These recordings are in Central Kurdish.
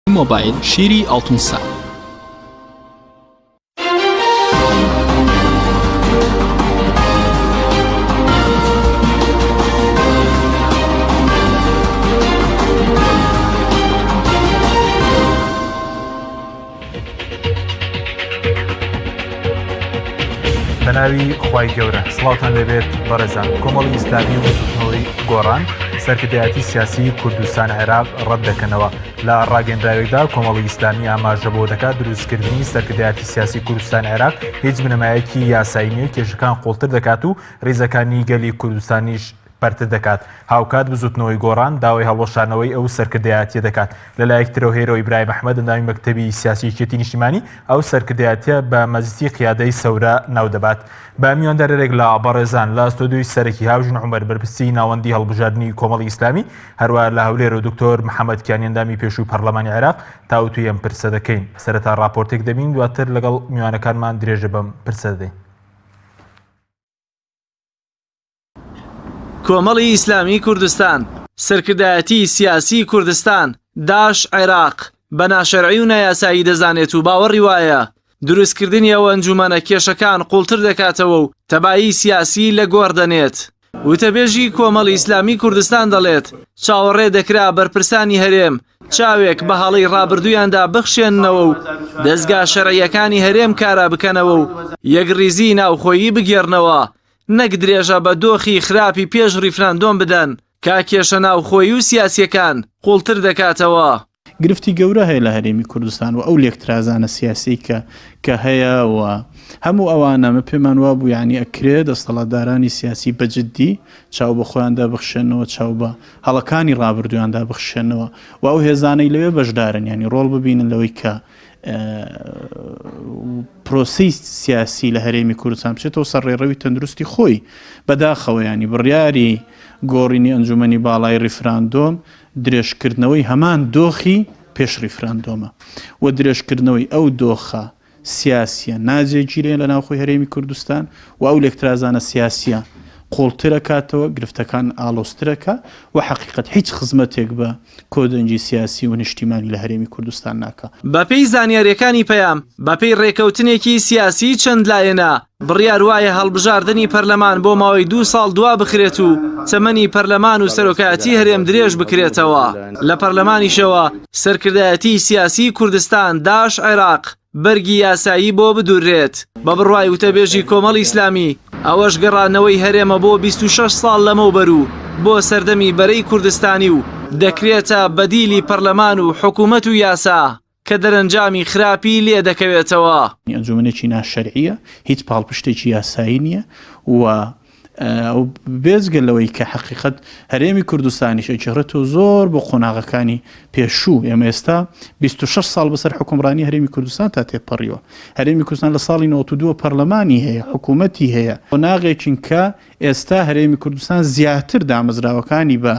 مۆبایل شیری ئاڵتون سا. بەناوی خی گەورە سڵاوان لەبێت بەڕێزان کۆمەڵی ئیسلامی و سوتنەوەی گۆڕان سەرکردایەتی سیاسی کوردستان عێراق ڕەت دەکەنەوە لە ڕاگەنراوێکدا کۆمەڵی ئیسلامی ئاماژە بۆ دەکات دروستکردنی سەرکردایەتی سیاسی کوردستان عێراق هیچ بنەمایەکی یاسایی نیە و کێشەکان قوڵتر دەکات و ریزەکانی گەلی کوردستانیش پەرتر دەکات هاوکات بزوتنەوەی گۆڕان داوای هەڵوەشانەوەی ئەو سەرکردایەتیە دەکات لەلایەک ترەوە هێرۆ ئیبراهیم ئەحمەد ئەندامی مەکتەبی سیاسی یەکێتی نیشتیمانی ئەو سەرکردایەتیە بە مەزیتی قیادەی سەورە ناودەبات بە میواندارێک لە بەڕێزان لە ستۆدیۆی سەرەکی هاوژن عومەر بەرپرسی ناوەندی هەڵبژاردنی کۆمەڵی ئیسلامی هەروەها لە هەولێر و دکتۆر محەمەد کیانی ئەندامی پێشووی پەرلەمانی عێراق تاوتوی ئەم پرسە دەکەین سەرەتا ڕاپۆرتێک دەبین دواتر لەگەڵ میوانەکانمان درێژە بەم پرسە دەدەین کۆمەڵی ئیسلامی کوردستان سەرکردایەتی سیاسی کوردستان داش عێراق بە ناشەرعی و نایاسایی دەزانێت و باوەڕی وایە دروستکردنی ئەو ئەنجومەنە کێشەکان قوڵتر دەکاتەوە و تەبایی سیاسیی لە گۆڕ دەنێت. وتەبێژی کۆمەڵی ئیسلامیی کوردستان دەڵێت، چاوەڕێ دەکرا بەرپرسانی هەرێم چاوێک بە هەڵەی ڕابردوویاندا بخشێننەوە و دەزگا شەرعییەکانی هەرێم کارا بکەنەوە و یەکڕیزیی ناوخۆیی بگێڕنەوە، نەک درێژە بە دۆخی خراپی پێش ڕیفراندۆم بدەن کە کێشە ناوخۆیی و سیاسییەکان قوڵتر دەکاتەوە. گرفتی گەورە هەیە لە هەرێمی کوردستان و ئەو لێکترازانە سیاسیەی کە کە هەیە و هەموو ئەوانە من پێمان وابوو یعنی ئەکرێ دەستەڵاتدارانی سیاسی بە جدی چاو بە خۆیاندا بخشێنەوە چاو بە هەڵەکانی ڕابردویاندا بخشێنەوە و ئەو هێزانەی لەوێ بەشدارن یعنی ڕۆڵ ببینن لەوەی کە پرۆسی سیاسی لە هەرێمی کوردستان بچێتەوە سەر ڕێڕەوی تەندروستی خۆی بەداخەوەیانی بڕیاری گۆڕینی ئەنجومی باڵای ریفراندۆم درێژکردنەوەی هەمان دۆخی پێش ڕیفراندۆمە و درێژکردنەوەی ئەو دۆخە سیاسیە ناجێگیرەیە لە ناوخۆی هەرێمی کوردستان و ئەو لێکترازانە سیاسیە قوڵترەکاتەوە، گرفتەکان ئاڵۆزترەکە و حەقیقەت هیچ خزمەتێک بە کۆدەنگی سیاسی و نیشتیمانی لە هەرێمی کوردستان ناکا. بەپێی زانیاریەکانی پەیام، بەپێی ڕێکەوتنێکی سیاسی چەند لایەنە، بڕیار وایە هەڵبژاردنی پەرلەمان بۆ ماوەی دوو ساڵ دوا بخرێت و تەمەنی پەرلەمان و سەرۆکایەتی هەرێم درێژ بکرێتەوە. لە پەرلەمانیشەوە سەرکردایەتی سیاسی کوردستان، داعش عێراق، بەرگی یاسایی بۆ بدوررێت. بە بڕوای وتەبێژی کۆمەڵی ئیسلامی، ئەوەش گەڕانەوەی هەرێمە بۆ بیست و شەش ساڵ لەمەوبەر و بۆ سەردەمی بەرەی کوردستانی و دەکرێتە بەدیلی پەرلەمان و حکوومەت و یاسا. کە دەرەنجامی خراپی لێ دەکەوێتەوە. ئەنجومەنێکی ناشەرعیە، هیچ پاڵپشتێکی یاسایی نیە و بێجگە لەوەی کە حەقیقەت هەرێمی کوردستانیش ئەگێڕێتەوە زۆر بۆ قۆناغەکانی پێشوو، ئێمە ئێستا بیست و شەش ساڵ بەسەر حوکمڕانی هەرێمی کوردستان تا تێپەڕیوە، هەرێمی کوردستان لە ساڵی نەوەد و دوو پەرلەمانی هەیە، حکوومەتی هەیە، قۆناغێکین کە. ئێستا هەرێمی کوردستان زیاتر دامەزراوەکانی بە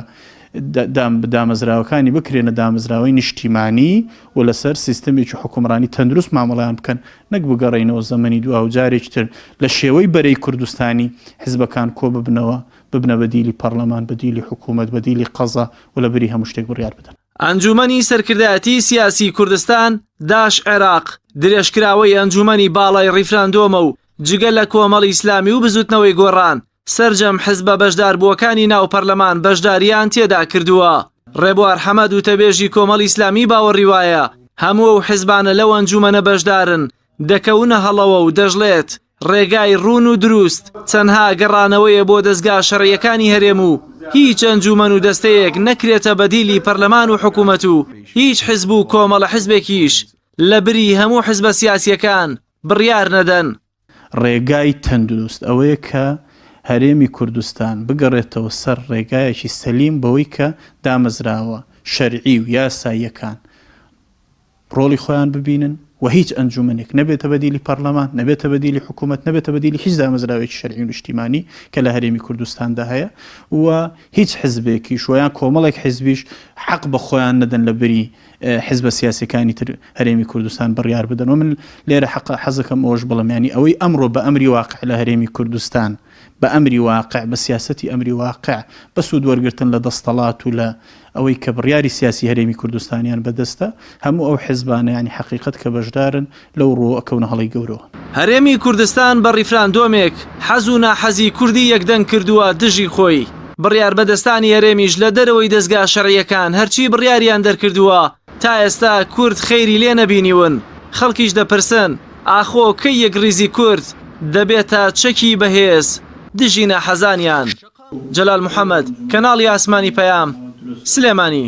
دامەزراوەکانی بکرێنە دامەزراوەی نیشتیمانی و لەسەر سیستەمێکی حکومڕانی تەندروست مامەڵیان بکەن نەک بگەڕێینەوە زەمەنی دو و جارێکی تر لە شێوەی بەرەی کوردستانی حزبەکان کۆ ببنەوە ببنە بە دیلی پەرلەمان بە دیلی حکوومەت بە دیلی قەزا و لە بری هەموو شتێک بڕیار بدەن. ئەنجوومەنی سەرکردایەتی سیاسی کوردستان، داش عێراق، درێژکراوەی ئەنجوومەنی باڵای ڕیفراندۆمە و جگە لە کۆمەڵی ئیسلامی و بزوتنەوەی گۆڕان، سەرجەم حزبە بەشداربووەکانی ناو پەرلەمان بەشدارییان تێدا کردووە. ڕێبوار حەمەد وتەبێژی کۆمەڵی ئیسلامی باوەڕی وایە هەموو ئەو حزبانە لەو ئەنجومەنە بەشدارن دەکەونە هەڵەوە و دەشڵێت ڕێگای ڕوون و دروست تەنها گەڕانەوەیە بۆ دەزگا شەرعیەکانی هەرێم و هیچ ئەنجومەن و دەستەیەک نەکرێتە بەدیلی پەرلەمان و حکومەت و هیچ حزب و کۆمەڵە حزبێکیش لەبری هەموو حزبە سیاسیەکان بڕیار نەدەن. ڕێگای تەندروست ئەوەیە کە هەرێمی کوردستان بگەڕێتەوە سەر ڕێگایەکی سەلیم بەوەی کە دامەزراوە شەرعی و یاساییەکان ڕۆڵی خۆیان ببینن و هیچ ئەنجومەنێک نەبێتە بەدیلی پەڕلەمان، نەبێتە بەدیلی حکوومەت، نەبێتە بەدیلی هیچ دامەزراوەیەکی شەرعی و نیشتیمانی کە لە هەرێمی کوردستاندا هەیە و هیچ حزبێکیش و یان کۆمەڵێک حزبیش حەق بە خۆیان نەدەن لە بری حزبە سیاسیەکانی تر هەرێمی کوردستان بڕیار بدەن و من لێرە حق حەزەکەم ئەوش بڵم ینی ئەوەی ئەمڕۆ بە ئەمری واقع لە هەرێمی کوردستان بە ئەمری واقع بە سیاستی ئەمری واقع بە سوود وەرگتن لە دەستەڵات و لە ئەوەی کە بڕیاری سیاسی هەرێمی کوردستانیان بەدەستە هەموو ئەو حزبانە ینی حقیقت کە بەشدارن لەو ڕووەوە ئەکەونە هەڵەی گەورەوە. هەرێمی کوردستان بە ڕیفراندۆمێک حەز و ناحەزی کوردی یەکدەنگ کردووە دژی خۆی. بڕیاربەدەستانی هەرێمیش لە دەرەوەی دەزگا شەرعییەکان هەرچی بڕیاریان دەرکردووە تا ئێستا کورد خەیری لێ نەبینیون. خەڵکیش دەپرسن ئاخۆ کەی یەکڕیزی کورد دەبێتە چەکی بەهێز دژی ناحەزانیان؟ جەلال محەمەد، کەناڵی ئاسمانی پەیام، سلێمانی.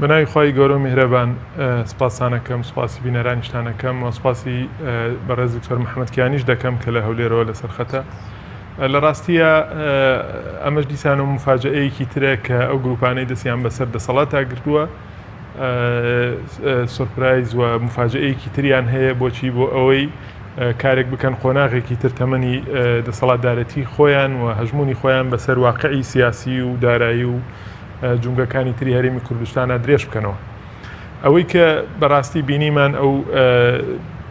بە ناوی خوای گەورە و میهرەبان سپاستان ئەکەم، سپاسی بینەرانیشتان ئەکەم و سپاسی بەڕێز دکتۆر محەممەد کیانیش دەکەم کە لە هەولێرەوە لەسەر خەتە. لە ڕاستیە ئەمەش دیسان و مفاجەیەکی ترە کە ئەو گروپانەی دەستیان بەسەر دەسەڵاتا گرتووە سورپرایز و مفاجەیەکی تریان هەیە بۆچی بۆ ئەوەی کارێک بکەن قۆناغێکی تر تەمەنی دەسەڵاتدارەتی خۆیان و هەژمونی خۆیان بەسەر واقعی سیاسی و دارایی و جومگەکانی تری هەرێمی کوردستانە درێژ بکەنەوە ئەوەی کە بەڕاستی بینیمان ئەو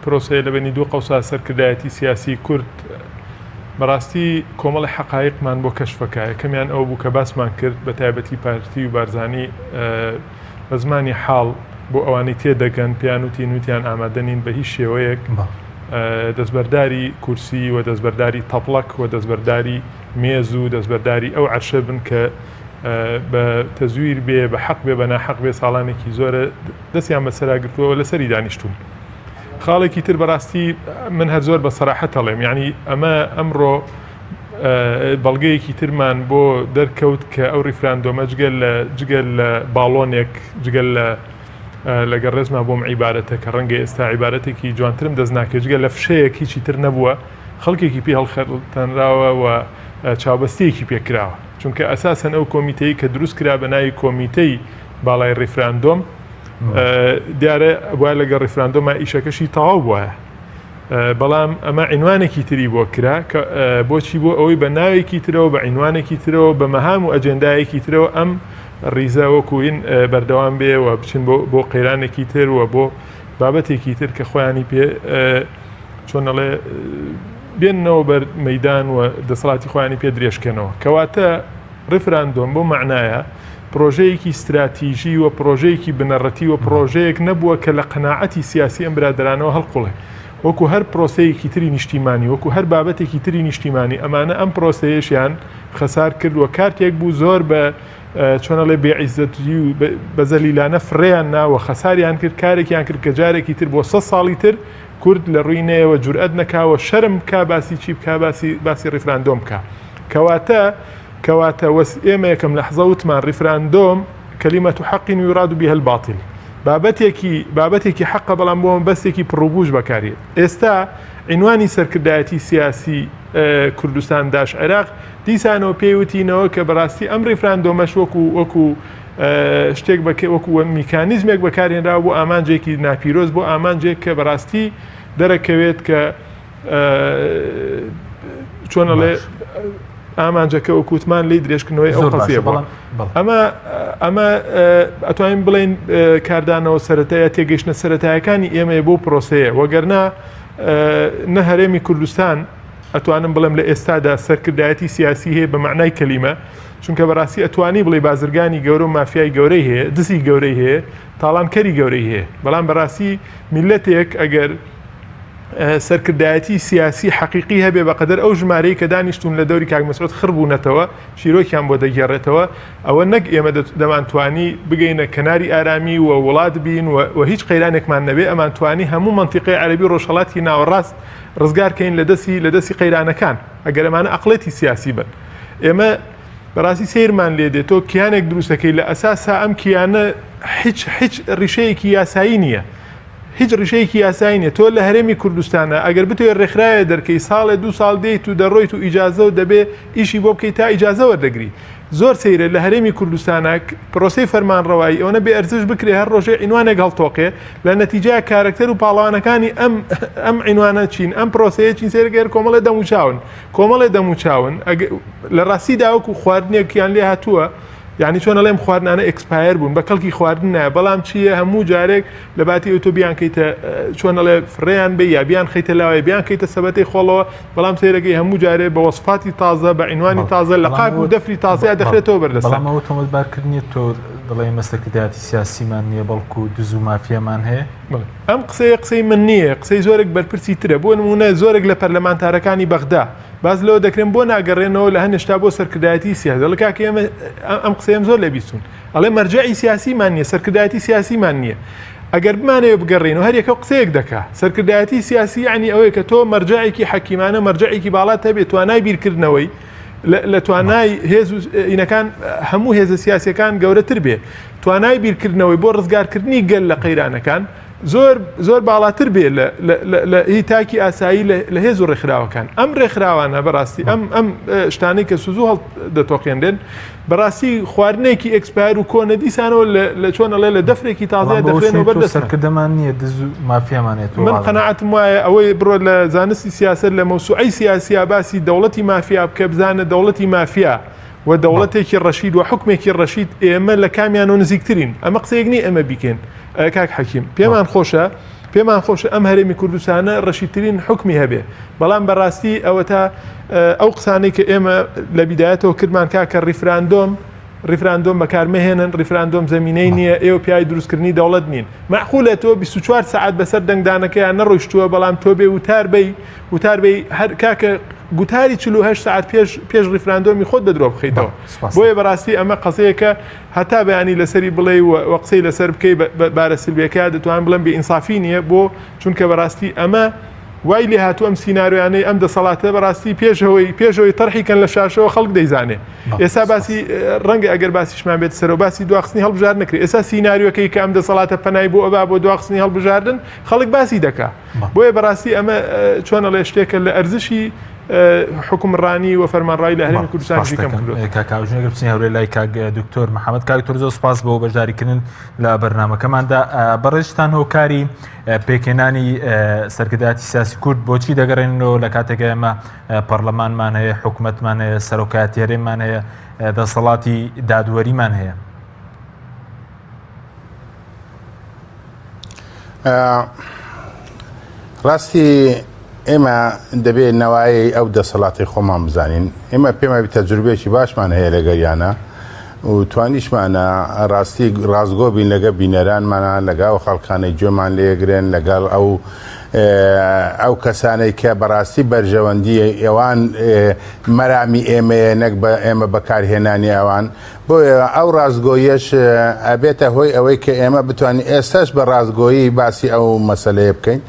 پرۆسەیە لە بەنی دوو قەوسا سەرکردایەتی سیاسی کورد بەڕاستی کۆمەڵی حقایقمان بۆ کەشفەکە یەکەمیان ئەو بوو کە باسمان کرد بە تایبەتی پارتی و بارزانی بە زمانی حاڵ بۆ ئەوانی تێدەگەن پیان و تینوتیان ئامادەنین بە هیچ شێوەیەک دەستبەرداری کورسی و دەستبەرداری تەپڵک و دەستبەرداری مێز و دەستبەرداری ئەو عەرشە بن کە بە تەزویر بێ بە حەق بێ بە ناحەق بێ ساڵانێکی زۆرە دەستیان بەسەرا گرتووە و لەسەری دانیشتوون خاڵێکی تر بەڕاستی من هەر زۆر بە سەراحەت هەڵێم یعنی ئەمە ئەمڕۆ بەڵگەیەکی ترمان بۆ دەرکەوت کە ئەو ریفراندۆمە جگەل لە جگەل لە باڵۆنێک جگەل لە لەگە ڕێزما بۆم عیبارەتە کە ڕەنگە ئێستا عیبارەتێکی جوانترم دەست ناکە جگە لە فشەیەک هیچی تر نەبووە خەڵکێکی پێ هەڵخەتەنراوە و چاوبەستەیەکی پێکراوە چونکە ئەساسەن ئەو کۆمیتەی کە دروست کرا بە ناوی کۆمیتەی باڵای ڕیفراندۆم دیارە وای لەگە ڕیفراندۆما ئیشەکەشی تەواو بواە بەڵام ئەمە عینوانێکی تری بۆ کرا بۆچی بۆ ئەوەی بە ناوێکی ترەوە بە عینوانێکی ترەوە بە مەهام و ئەجێندایەکی ترەوە ئەم ڕیزە وەکوین بەردەوام بێ و بچین بۆ قەیرانێکی تر و بۆ بابەتێکی تر کە خۆیانی پێ چۆنەڵێ بێننەوە بەر مەیدان و دەسەڵاتی خۆیانی پێ درێژ کەنەوە کەواتە ڕفراندۆم بۆ معنایە پرۆژەیەکی استراتیژی و پرۆژەیەکی بنەڕەتی و پرۆژەیەک نەبووە کە لە قەنەعەتی سیاسی ئەم برادرانەوە هەڵقوڵێ وەکو هەر پرۆسەیەکی تری نیشتیمانی وەکو هەر بابەتێکی تری نیشتیمانی ئەمانە ئەم پرۆسەیەشیان خەسار کرد و کارتێک بوو زۆر بە چۆنەڵێ بێعیزەتی و بەزەلیلانە فڕێیان ناوە خەساریان کرد کارێکیان کرد کە جارێکی تر بۆ سە ساڵی تر کورد لە ڕوی نەیەوە جورئەت نەکاوە شەرم بکا باسی چی بکا باسی باسی ڕیفراندۆم بکا کەواتە کەواتە وەس ئێمە یەکەم لەحزە وتمان ڕیفراندۆم کەلیمە تو حەقین و یرادو بیە الباطل بابەتێکی بابەتێکی حەقە بەڵام بۆ مەبەستێکی پڕوپوش بەکاریێت ئێستا عینوانی سەرکردایەتی سیاسی کوردستان داش عێراق دیسانەوە پێی وتینەوە کە بەڕاستی ئەم ڕیفراندۆمەش وەکو وەکو شتێک وەکو میکانیزمێک بەکارهێنراوە بۆ ئامانجێکی ناپیرۆز بۆ ئامانجێک کە بەڕاستی دەرەکەوێت کە چۆنەڵێ ئامانجەکە و کووتمان لی درێژکردنەوەی ئەو قەزیە بەڵام ئەمە ئەمە ئەتوانین بڵین کاردانەوە سەتایە تێگەیشتە سەتایەکانی ئێمەیە بۆ پرۆسەیە وەگەرنا نە هەرێمی کوردستان ئەتوانم بڵێم لە ئێستادا سەرکردایەتی سیاسی هەیە بە معنای کەلیمە چونکە بەراستی ئەتوانی بڵێی بازرگانی گەورە و مافیای گەورەی هەیە دزی گەورەی هەیە تاڵان کەری گەورەی هەیە بەڵام بەراستی میلەتێک ئەگەر سەرکردایەتی سیاسی حەقیقی هەبێ بە قەدەر ئەو ژمارەی کە دانیشتون لە دەوری کاک مەسعود خڕ بوونەتەوە چیرۆکیان بۆ دەگێڕێتەوە ئەوە نەک ئێمە دەمانتوانی بگەینە کەناری ئارامی و وڵات بین و هیچ قەیرانێکمان نەبێ ئەمانتوانی هەموو منتیقی عەربی ڕۆژهڵاتی ناوەڕاست ڕزگارکەین لە دەستی لە دەستی قەیرانەکان ئەگەرمانە ئەقلێتی سیاسی بن ئێمە بەڕاستی سەیرمان لێ دێت تۆ کیانێک دروستەکەی لە ئەساسا ئەم کیانە هیچ هیچ ڕیشەیەکی یاسایی نییە هیچ ڕیشەیەکی یاسایی نیە تۆ لە هەرێمی کوردستانە ئەگەر بتوێ ڕێکخراوێ دەرکەی ساڵێ دو ساڵ دێیت و دەڕۆیت و ئیجازە و دەبێ ئیشی بۆ بکەیت تا ئیجازەوە دەگری زۆر سەیرە لە هەرێمی کوردستانە پرۆسی فەرمانڕەوایی ئەوەنە بێ ئەرزش بکرێ هەر ڕۆژێ عینوانێک هەڵتۆقێ لە نەتیجای کارەکتەر و پاڵەوانەکانی ئەم ئەم عینوانە چین ئەم پرۆسەیە چین سێرگەر کۆمەڵێ دەموچاون کۆمەڵێ دەموچاون لە ڕاستیدا وەکو خواردنێکیان لێ هاتووە یعنی چۆن ئەڵێم خواردنانە ئەکسپایر بوون بە کەڵکی خواردن نایە بەڵام چییە هەموو جارێک لە باتی ئەوتۆ بیان کەیتە چۆن ئەڵێ فڕێیان بێ یا بیان خەیتە لاوای بیان کەیتە سەبەتی خۆڵەوە بەڵام سەیرەکەی هەموو جارێ بە وەسفاتی تازە بە عینوانی تازە لە قاک و دەفری تازەیا دەخرێتەوە بەردەسامەوە تۆمەتبارکردنی تۆ دڵی مەسەکردایەتی سیاسیمان نییە بەڵکو دز و مافیامان هەیە ئەم قسەیە قسەی من نییە، قسەی زۆرێک بەرپرسی ترە، بۆ نموونە زۆرێک لە پەرلەمانتارەکانی بەغدا باس لەوە دەکرێن بۆ ناگەرێنەوە لە هەنێشتا بۆ سەرکردایەتی سیاسی، دەڵێ کاکە ئێمە ئەم قسەیەم زۆر لێ بیستوون، ئەڵێ مەرجەعی سیاسیمان نییە، سەرکردایەتی سیاسیمان نییە، ئەگەر بمانەوێ بگەڕێینەوە هەر یەکە قسەیەک دەکا، سەرکردایەتی سیاسی یەعنی ئەوەیە کە تۆ مەرجەعێکی حەکیمانە، مەرجەعێکی باڵات هەبێ، توانای بیرکردنەوەی. لە توانای هێز و ئینەکان هەموو هێزە سیاسەکان گەورەتر بێ توانای بیرکردنەوەی بۆ ڕزگارکردنی گەل لە قەیرانەکان زۆر زۆر باڵاتر بێ لە هی تاکی ئاسایی لە هێز و ڕێکخراوەکان ئەم ڕێکخراوانە بەڕاستی ئەم ئەم شتانەی کە سوزو هەڵ دەتۆقێنرێن بەڕاستی خواردنێکی ئێکسپایەر و کۆنە دیسانەوە لە چۆن ئەڵێ لە دەفرێکی تازەیە دەخوێنەوە بەر دەست سەرکردەمان نییە دز و مافیامانێت من قەنەعەتم وایە ئەوەی بڕۆ لە زانستی سیاست لە مەوسوعی سیاسیا باسی دەوڵەتی مافیا بکە بزانە دەوڵەتی مافیا و دەوڵەتێکی ڕەشید و حکمێکی ڕەشید ئێمە لە کامیان و نزیکترین ئەمە قسەیەک نی ئەمە بیکەین کاک حەکیم پێمان خۆشە پێمان خۆشە ئەم هەرێمی کوردستانە ڕەشیترین حکمی هەبێ بەڵام بەڕاستی ئەوە تا ئەو قسانەی کە ئێمە لە بیدایەتەوە کردمان کاکە ڕیفراندۆم ڕیفراندۆم بەکار مەهێنن ڕیفراندۆم زمینەی نییە ئێوە پیاوی دروستکردنی دەوڵەت نین معقولە تۆ 24 سعات بەسەر دەنگدانەکەیان نەڕۆیشتووە بەڵام تۆ بێ وتار بی وتار بی هەر کاکە گوتاری 48 سعات پێش پێش ڕیفراندۆمی خۆت بە درۆ بخیتەوە بۆیە بەڕاستی ئەمە قەزەیەکە هەتا بەیانی لەسەری بڵێ و قسەی لەسەر بکەی بارە سلبەکە دەتوان بڵم بێ ئینسافی نییە بۆ چونکە بەڕاستی ئەمە وای لێهاتوو ئەم سینارۆیانەی ئەم دەسەڵاتە بەڕاستی پێشەوەی پێشەوەی تەرحی کەن لە شاشەوە خەڵک دەیزانێ ئێستا باسی ڕەنگە ئەگەر باسیشمان بێت سەرەوە باسی دواخستنی هەڵبژار نکرێت ئێستا سینناریوەکەی کە ئەم دەسەڵاتە پەنای بۆ ئەبا بۆ دواخستنی هەڵبژاردن خەڵک باسی دەکا بۆیە بەڕاستی ئەمە چۆنە لە شتێکە لە ئەرزشی حکومڕانی و فەرمانڕای لە هەرمی کوردستانکەمکردوەکەکوژنەگرچنی هەورێ لای کاگ دکتۆر محەممەد کاکتۆر زۆر سپاس بۆ بەشداریکردن لە بەرنمەکەماندا بەڕێژتان هۆکاری پێکهێنانی سەرکردایەتی سیاسی کورد بۆچی دەگەڕێنەوە لە کاتێکە ئێمە پەرلەمانمان هەیە حکوومەتمان هەیە سەرۆکاتی هەرێمان هەیە دەسەڵاتی دادوەریمان هەیە ڕاستی ئێمە دەبێت نەوایەی ئەو دەسەڵاتی خۆمان بزانین ئێمە پێمە تەجروبێکی باشمان هەیە لەگەریانە و توانیشمانە ڕاستی ڕاستگۆ بین لەگە بینەرانمانە لەگە ئەو خەڵکانەی گوێمان لێگرن لەگەڵ ئەو ئەو کەسانەی کە بەڕاستی بەرژەوەندی ئەوان مەرامی ئێمەیە نەک بە ئێمە بەکارهێنانی ئەوان بۆ ئەو ڕاستگۆیەش ئەبێتە هۆی ئەوەی کە ئێمە بتوانین ئێستاش بە ڕاستگۆیی باسی ئەو مەسلەیە بکەین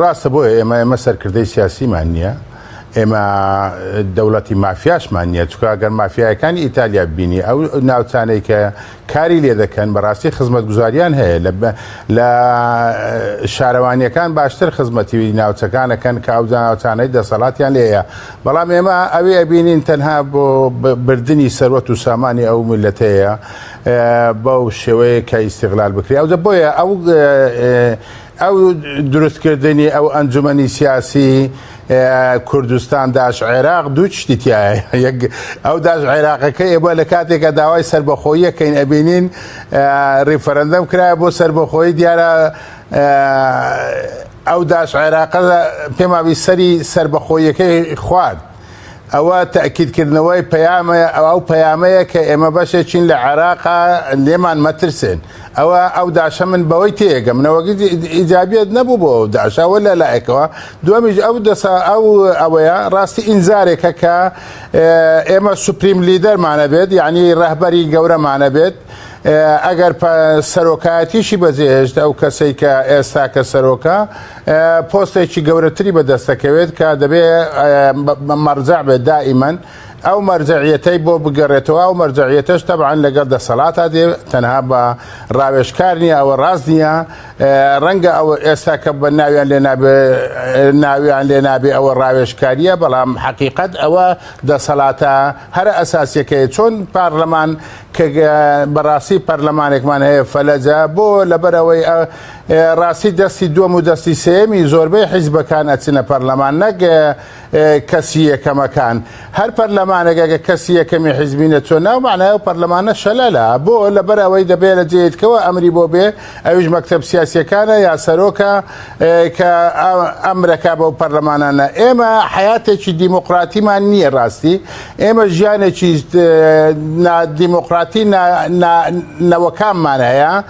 ڕاستە بۆیە ئێمە ئێمە سەرکردەی سیاسیمان نییە ئێمە دەوڵەتی مافیاشمان نییە چکە ئەگەر مافیایەکانی ئیتالیا بینی ئەو ناوچانەی کە کاری لێ دەکەن بەڕاستی خزمەت گوزاریان هەیە لە لە شارەوانیەکان باشتر خزمەتی ناوچەکانەکەن کە ئەو ناوچانەی دەسەڵاتیان لێە بەڵام ئێمە ئەوی ئەبینین تەنها بۆ بردننی سەروەت و سامانی ئەو میلەتەیە بەو شێوەیە کە ئیسیغلال بکری ئەو دە بۆیە ئەو ئەو دروست کردنی ئەو ئەنجومەنی سیاسی کوردستان داش عێراق دوو شتی تایە ئەو داش عێراقەکە ئێبە لە کاتێکە داوای سربەخۆیەکەین ئەبینین ریفرەندەم کرایە بۆ سربەخۆی دیارە ئەو داش عێراقە پێماوی سەری سربەخۆیەکەی خوارد. ئەوە تەئکید کردنەوەی پەیامە ئەو پەیامەیە کە ئێمە بەشێکین لە عێراقا لێمان مەترسێن ئەوە ئەو داشە من بەوەی تێگە منەوەگە ئیجابیت نەبوو بۆ ئەو داشە ئەوە لە لایەکەوە دومیش ئەو دەسا ئەو ئەوەیە ڕاستی ئینزارێکە کە ئێمە سوپریم لیدەرمانە بێت یعنی ڕەهبەری گەورەمانە بێت ئەگەر سەرۆکایەتیشی بەجێهێشت ئەو کەسەی کە ئێستا کە سەرۆکە پۆستێکی گەورەتری بەدەستەکەوێت کە دەبێ مەرجەع بێت دائیمەن ئەو مەرجەعیەتەی بۆ بگەڕێتەوە ئەو مەرجەعیەتەش تەبعەن لەگەڵ دەسەڵاتە دێ تەنها بە ڕاوێژکار نییە ئەوە ڕاست نییە ڕەنگە ئەوە ئێستا کە بە ناویان لێ ناویان لێ نابێ ئەوە ڕاوێژکاریە بەڵام حەقیقت ئەوە دەسەڵاتە هەرە ئەساسیەکەی چۆن پارلەمان کە بەڕاستی پەرلەمانێکمان هەیە فەلەجە بۆ لەبەرەوەی ڕاستی دەستی دووەم و دەستی سێمی زۆربەی حیزبەکان ئەچنە پەرلەمان نەک کەسی یەکەمەکان هەر پەرلەمانەگەگە کەسی یەکەمی حیزبینە چۆن ناو معنای و پەرلەمانە شەلەلا بۆ لەبەر ئەوەی دەبێت لە جێتکەوە ئەمری بۆ بێ ئەوش مەکتب سیاسەکانە یا سەرۆکە کە ئەمرەکە بەو پەرلەمانانە ئێمە حیاتێکی دیموقراتیمان نییە ڕاستی ئێمە ژیانێکی دیموقراتی نەوەکانمان هەیە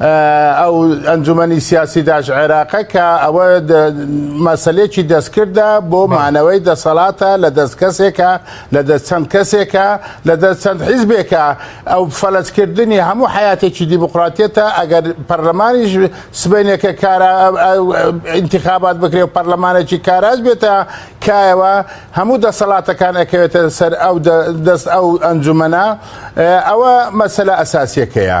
ئەو ئەنجومەنی سیاسی داش عێراقە کە ئەوە مەسلێکی دەستکردە بۆ مانەوەی دەسەڵاتە لە دەست کەسێکە لە دەست چەند کەسێکە لە دەست چەند حیزبێکە ئەو فەلسکردنی هەموو حیاتێکی دیموکراتێتە ئەگەر پەرلەمانیش سبینێکە کارە انتخابات بکرێ و پەرلەمانێکی کاراز بێتە کایەوە هەموو دەسەڵاتەکان ئەکەوێتە سەر ئەو دەست ئەو ئەنجومەنە ئەوە مەسلە ئەساسیەکەیە.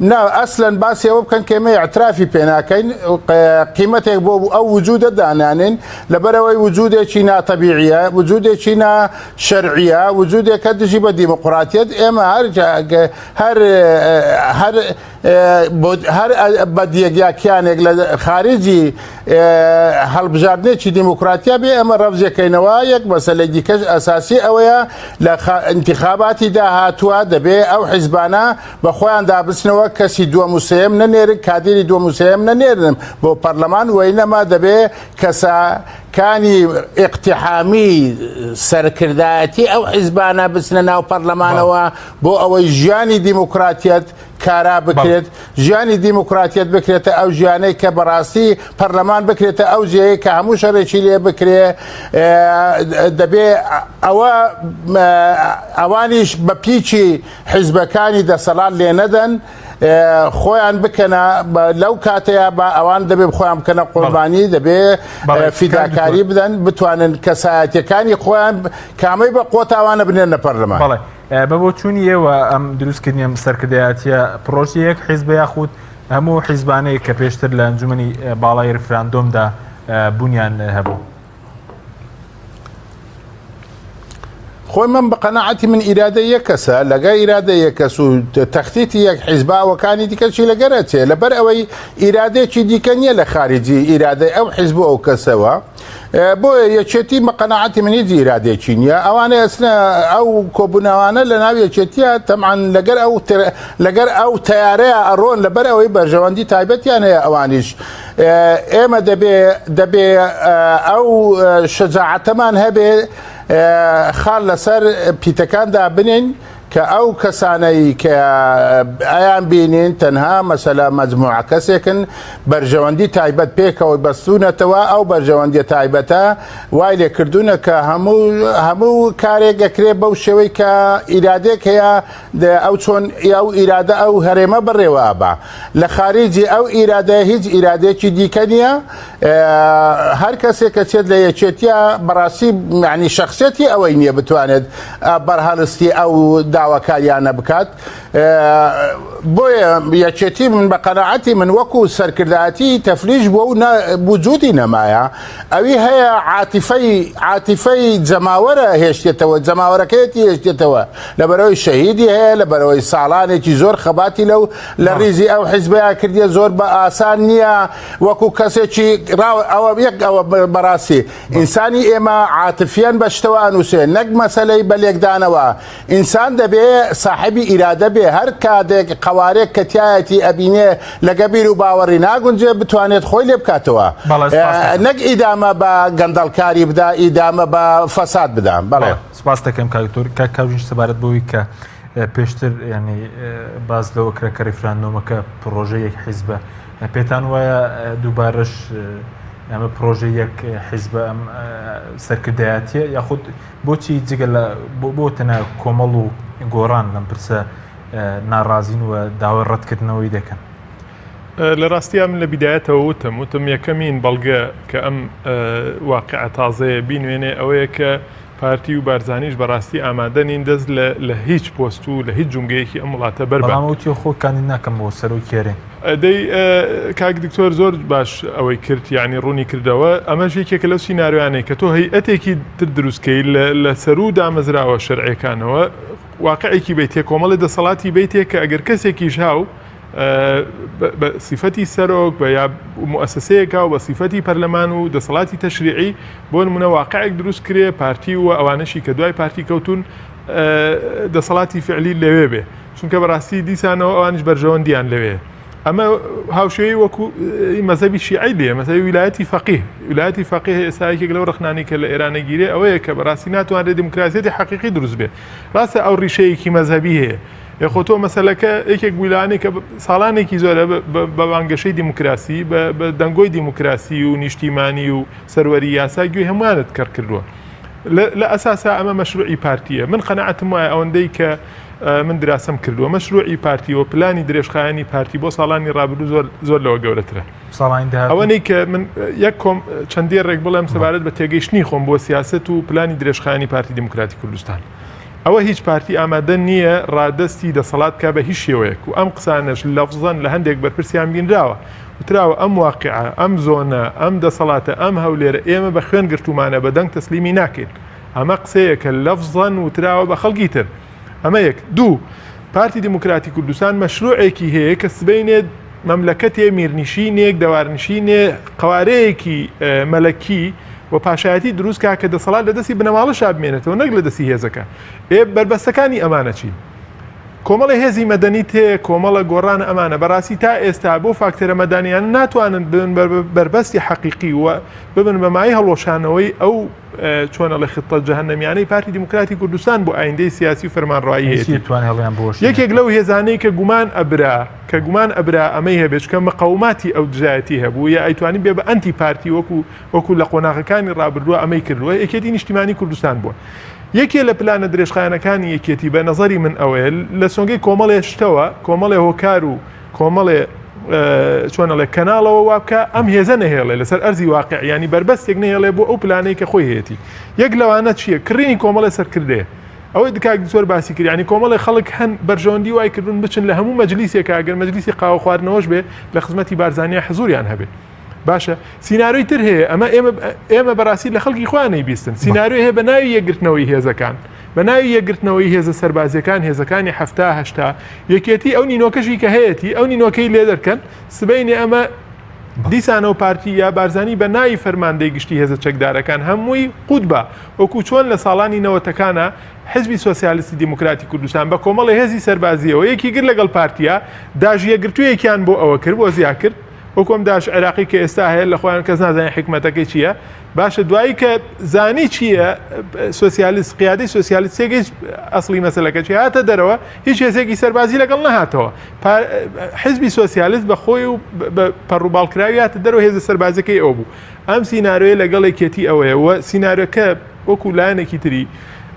نا ئەسلەن باسی ئەوە بکەن کە ئێمە ئیعترافی پێ ناکەین قیمەتێک بۆ ئەو وجودە دانانێن لەبەرەوەی وجودێکی ناتەبیعیە وجودێکی نا شەرعیە وجودێکە دژی بە دیموقراتیت ئێمە هەر هەر هەر هەر بەدیەک یا کیانێک لە خارجی هەڵبژاردنێکی دیموکراتیا بێ ئەمە ڕەفزیەکەینەوە یەک مەسلەی دیکەش ئەساسی ئەوەیە لە انتخاباتی داهاتوە دەبێ ئەو حیزبانە بە خۆیان دابچنەوە کەسی دووەم و سێیەم نەنێرن کادیری دووەم و سێیەم نەنێرن بۆ پەرلەمان وەینەما دەبێ کەسە کانی ئیقتحامی سەرکردایەتی ئەو حیزبانە بچنە ناو پەرلەمانەوە بۆ ئەوەی ژیانی دیموکراتیت کارا بکرێت ژیانی دیموکراتیت بکرێتە ئەو ژیانەی کە بەڕاستی پەرلەمان بکرێتە ئەو جێەیە کە هەموو شەرێکی لێ بکرێ دەبێ ئەوە ئەوانیش بە پیچی حیزبەکانی دەسەڵات لێ نەدەن خۆیان بکەنە لەو کاتەیە بە ئەوان دەبێ خۆیان بکەنە قۆربانی دەبێ فیداکاری بدەن بتوانن کەسایەتەکانی خۆیان کامەی بە قۆتاوانە بنێن نە پەرلەمان بەڵێ بە بۆ چوونی ئێوە ئەم دروستکردنیە سەرکردایەتە پرۆژی یەک حیزب یاخود هەموو حیزبانەیە کە پێشتر لە ئەنجومی باڵای رفراندۆمدا بوونیان هەبوو. خۆی من بە قەنەعەتی من ئیرادە یەک کەسە لەگە ئیرادە یەک کەس و تەختیتی یەک حیزباوەکانی دیکەچی لەگەرە چێ لەبەر ئەوەی ئیرادێکی دیکە نییە لە خارجی ئیرادەی ئەو حیزب و ئەو کەسەوە بۆیە یەکێتی بە قەنەعەتی منی ئیرادێکی نییە ئەوانەی ئەسنە ئەو کۆبوونەوانە لە ناو یەکێتیە تەمان لەگەر ئەو لەگەر ئەو تیارەیە ئەڕۆن لەبەر ئەوەی بەرژەوەندی تایبەتیان هەیە ئەوانیش ئێمە دەبێ دەبێ ئەو شەجاعەتەمان هەبێ خال لەسەر پیتەکان دابنین کە ئەو کەسانەی کە ئایان بینین تەنها مەسەلا مەجموعە کەسێکن بەرژەوەندی تایبەت پێکەوەی بەستونەتەوە ئەو بەرژەوەندی تایبەتە وای لێ کردوونە کە هەموو هەموو کارێک دەکرێت بەو شێوەی کە ئیرادێک هەیە دەێ ئەو چۆن ئەو ئیرادە ئەو هەرێمە بەڕێوە ئەبا لە خارجی ئەو ئیرادەیە هیچ ئیرادەیەکی دیکە نییە هەر کەسێک کە چێت لە یەکێتیە بەڕاستی معنی شخصێتی ئەوەی نییە بتوانێت بەرهەڵستی ئەو داواکاریانە بکات بۆیە یەکێتی من بە قەنەعەتی من وەکو سەرکردایەتی تەفلیش بۆ و بجودی نەمایە ئەوی هەیە عاتیفەی عاتیفەی جەماوەرە هێشتێتەوە جەماوەرەکەیەتی هێشتێتەوە لەبەرئەوەی شەهیدی هەیە، لەبەرئەوەی ساڵانێکی زۆر خەباتی لەو لە ڕیزی ئەو حیزبەیا کردیە، زۆر بە ئاسان نییە وەکو کەسێکی ڕاو ئەوە یەک ئەوە بەڕاستی ئینسانی ئێمە عاتفیەن بە شتەوە ئەنووسێ نەک مەسەلەی بە لێکدانەوە، ئینسان دەبێ ساحێبی ئیرادە بێ هەر کاتێک قەوارێک کە تیایەتی ئەبینێ لەگە بیر و باوەڕی ناگونجێ بتوانێت خۆی لێ بکاتەوە نەک ئیدامە بە گەندەڵکاری بدا ئیدامە بە فەساد بدا بەڵێ. سپاست دەکەم کاک دکتۆر. کاک کاوژین سەبارەت بەوەی کە پێشتر یانی باس لەوە کرا کە ریفراندۆمەکە پڕۆژەی یەک حیزبە پێتان وایە دووبارەش ئەمە پرۆژە یەک حیزبە ئەم سەرکردایەتیە یاخود بۆچی جگە لە بۆ بۆ تەنە کۆمەڵ و گۆڕان لەم پرسە ناڕازین و داوای ڕەتکردنەوەی دەکەن لە ڕاستیا من لە بیدایەتەوە وتم وتم یەکەمین بەڵگە کە ئەم واقعە تازەیە بینوێنێ ئەوەیە کە پارتی و بارزانیش بەڕاستی ئامادە نین دەست لە هیچ پۆست و لە هیچ جونگەیەکی ئەم وڵاتە بەرباموتی خۆ کانی ناکەم بۆ سەرۆ کێرێن ئەدەی کاک دکتۆر زۆر باش ئەوەی کرد ینی ڕوونی کردەوە ئەمەش یەکێکە لەو سینناروانەی کە تۆ هەیئەتێکی تر دروستکەی لە سەرو دامەزراوە شەرعەکانەوە واقعێکی بیت تێ کۆمەڵی دەسەڵاتی بیتێک کە ئەگەر کەسێکیش هاو بە سیفەتی سەرۆک بە یا موسسەیەکە و بە سیفەتی پەرلەمان و دەسەڵاتی تەشریعی بۆ نمونە واقعێک دروست کرێ پارتی و ئەوانەشی کە دوای پارتی کەوتون دەسەڵاتی فعلی لەوێ بێ چونکە بەڕاستی دیسانەوە ئەوانش بەرژەوەندیان لەوێ ئەمە هاوشێوی وەکو مەزەبی شیعی لێ مەزەوی ویلایەتی فەقی ویلایەتی فەقی ئێسایەکێک لەو ڕخنانی کە لە ئێرانە گیرێ ئەوەیە کە بەڕاستی ناتوانرێت دیموکراسیەتی حقیقی دروست بێ ڕاستە ئەو ڕیشەیەکی مەزەبی هەیە ئێ خۆ تۆ مەسەلەکە یەکێک بووی لەوانەیە کە ساڵانێکی زۆرە بە بانگەشەی دیموکراسی بە دەنگۆی دیموکراسی و نیشتیمانی و سەروەری یاسا گوێی هەمووانت کەڕ کردووە. لە ئەساسا ئەمە مەشروعی پارتیە من قەنەعەتم وایە ئەوەندەی کە من دراسم کردووە مەشروعی پارتی و پلانی درێژخایانی پارتی بۆ ساڵانی ڕابردوو زۆر زۆر لەوە گەورەترە ئەوەی کە من یەک کۆم چەندی ڕێک بڵێم سەبارەت بە تێگەیشتنی خۆم بۆ سیاست و پلانی درێژخانی پارتی دیموکراتی کوردستان ئەوە هیچ پارتی ئامادە نییە ڕادەستی دەسەڵات بکات بە هیچ شێوەیەک و ئەم قسانەش لەفزەن لە هەندێک بەرپرسیان بینراوە وتراوە ئەم واقعە، ئەم زۆنە، ئەم دەسەڵاتە، ئەم هەولێرە ئێمە بە خوێن گرتوومانە بە دەنگ تەسلیمی ناکەین. ئەمە قسەیەکە لەفزەن وتراوە بە خەڵکی تر. ئەمە یەک. دوو. پارتی دیموکراتی کوردستان مەشرووعێکی هەیە کە سبەینێ، مەملەکەتێ میرنشینێک، دەوارنشینێ، قەوارەیەکی مەلەکی و پاشایەتی دروست کا کە دەسەڵات لە دەستی بنەماڵە شابمێنێتەوە نەک لە دەستی هێزەکە ئێ بەربەستەکانی ئەمانە چین کۆمەڵی هێزی مەدەنی تێ کۆمەڵە گۆڕان ئەمانە بەڕاستی تا ئێستا بۆ فاکتەرە مەدانیان ناتوانن بن بەربەستی حەقیقی وە ببن بەمای هەڵۆشانەوەی ئەو چۆن ئەڵێ خطە جەهەنەمیانەی پارتی دیموکراتی کوردستان بۆ ئایندەی سیاسی و فەرمانڕایی هەیەتی. هیچی توان هەڵیان بۆش یەکێک لەو هێزانەی کە گومان ئەبرا کە گومان ئەبرا ئەمەی هەبێت چکە مقەوماتی ئەو دژایەتی هەبوو یا ئەیتوانی بێ بە ئەنتی پارتی وەکو وەکو لە قۆناغەکانی ڕابردووە ئەمەی کردووە یەکێتی نیشتیمانی کوردستان بووە یەکێ لە پلانە درێژخایەنەکانی یەکێتی بە نەزەری من ئەوەیە لە سۆنگەی کۆمەڵێ شتەوە کۆمەڵێ هۆکار و کۆمەڵێ چۆن ئەڵێ کەناڵەوە وابکە ئەم هێزە نەهێڵێ لەسەر ئەرزی واقع ینی بەربەستێک نهێڵێ بۆ ئەو پلانەی کە خۆی هەیەی یەک لەوانە چییە کڕینی کۆمەڵی سەرکردێ ئەوەی دکاک زۆر باسی کردیانی کۆمەڵی خەڵک هەن بەرژەوەندی وای کردون بچن لە هەموو مەجلیسێکە گەر مەجلیسی قاوە خواردنەوەش بێ لە خزمەتی بارزانانی حزوریان هەبێت باشە سینناروی تر هەیە ئەمە ئێمە ئێمە بەڕاستی لە خەڵکی خۆیان نەیبیستن سینناروی هەیە بە ناوی یەکگرتنەوەی هێزەکان بە ناوی یەکگرتنەوەی هێزە سەربازیەکان هێزەکانی هەفتا هەشتا یەکێتی ئەو نینۆکەشی کە هەیەی ئەو نینۆکەی لێ دەرکەن سبینێ ئەمە دیسانەوە پارتی یا بارزانانی بە ناوی فەرماندەی گشتی هێزە چەکدارەکان هەمووی قوت بە وەکو چۆن لە ساڵانی نەوەتەکانە حزبی سوسیالیستی دیموکراتی کوردستان بە کۆمەڵی هێزی سەربازیەوە یەکی گر لەگەڵ پارتیا داژیەگرتوویەکیان بۆ ئەوە کرد بۆ زیاکرد وەکو ئەم داعش عێراقی کە ئێستا هەیە لە خۆیان کەس نازانێت حکمەتەکەی چییە باشە دوایی کە زانی چییە سوسیالیست قیادی سوسیالیست تێگەیش ئەسلی مەسلەکە چی هاتە دەرەوە هیچ هێزێکی سەربازی لەگەڵ نەهاتەوە حزبی سوسیالیست بە خۆی و پەڕوباڵکراویاتە دەرەوە هێزە سەربازەکەی ئەو بوو ئەم سینناروێ لەگەڵێکێتی ئەوەیە سینناروەکە وەکو لایەنێکی تری،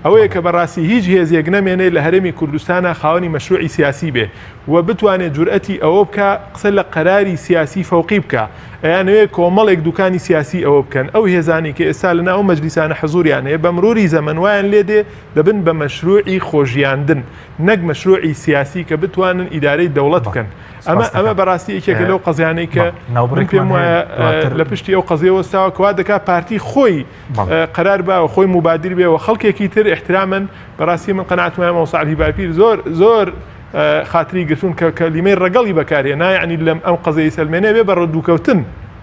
ئەوەیە کە بەڕاستی هیچ هێزێک نەمێنێ لە هەرێمی کوردستانا خاوەنی مەشروعی سیاسی بێ و بتوانێ جورئەتی ئەوە بکا قسە لە قەراری سیاسی فەوقی بکا، ئەیانەوێ کۆمەڵێک دوکانی سیاسی ئەوە بکەن، ئەو هێزانەی کە ئێستا لە ناو ئەو مەجلیسانە حزوریان هەیە بە مروری زەمەن وایان لێ دێ دەبن بە مەشروعی خۆژیاندن نەک مەشروعی سیاسی کە بتوانن ئیدارەی دەوڵەت بکەن، ئەمە ئەمە بەڕاستی یەکێکە لەو قەزیانەی کە من پێم وایە لە پشتی ئەو قەزیە وەستاوە کە وا دەکا پارتی خۆی قەرار با و خۆی موبادر بێ و خەڵکێکی تر احترامن بەڕاستی من قەناعەتم وایە مامۆستا عەلی باپیر زۆر زۆر خاتری گرتوون کە کەلیمەی ڕەگەڵی بەکارهێنا یعنی لەم ئەم قەزەی سەلمێنێ بێ بە ڕدووکەوتن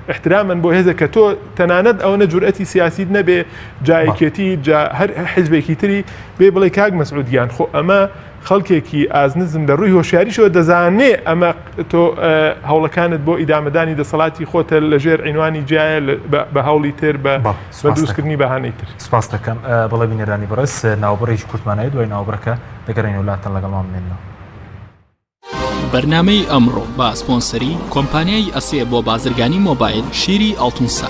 احترامن بۆ هێزە کە تۆ تەنانەت ئەوەنە جورئەتی سیاسیت نەبێ جایەکێتی جا هەر حزبێکی تری بێ بڵێ کاک مەسعود گیان خۆ ئەمە خەڵکێکی ئازنزم لە ڕووی هۆشیاریشەوە دەزانێ ئەمە تۆ هەوڵەکانت بۆ ئیدامەدانی دەسەڵاتی خۆتە لە ژێر عینوانی جیایە بە هەوڵی تر بە دروستکردنی بەهانەی تر. سپاس دەکەم بەڵێ بینەرانی بەڕێز ناوبڕێکی کورتمانەیە دوای ناوبڕەکە دەگەڕێنەوە لاتان لەگەڵمان بمێنەوە. بەرنامەی ئەمڕۆ بە سپۆنسەری کۆمپانیای ئەسێ بۆ بازرگانی مۆبایل شیری ئەڵتونسا.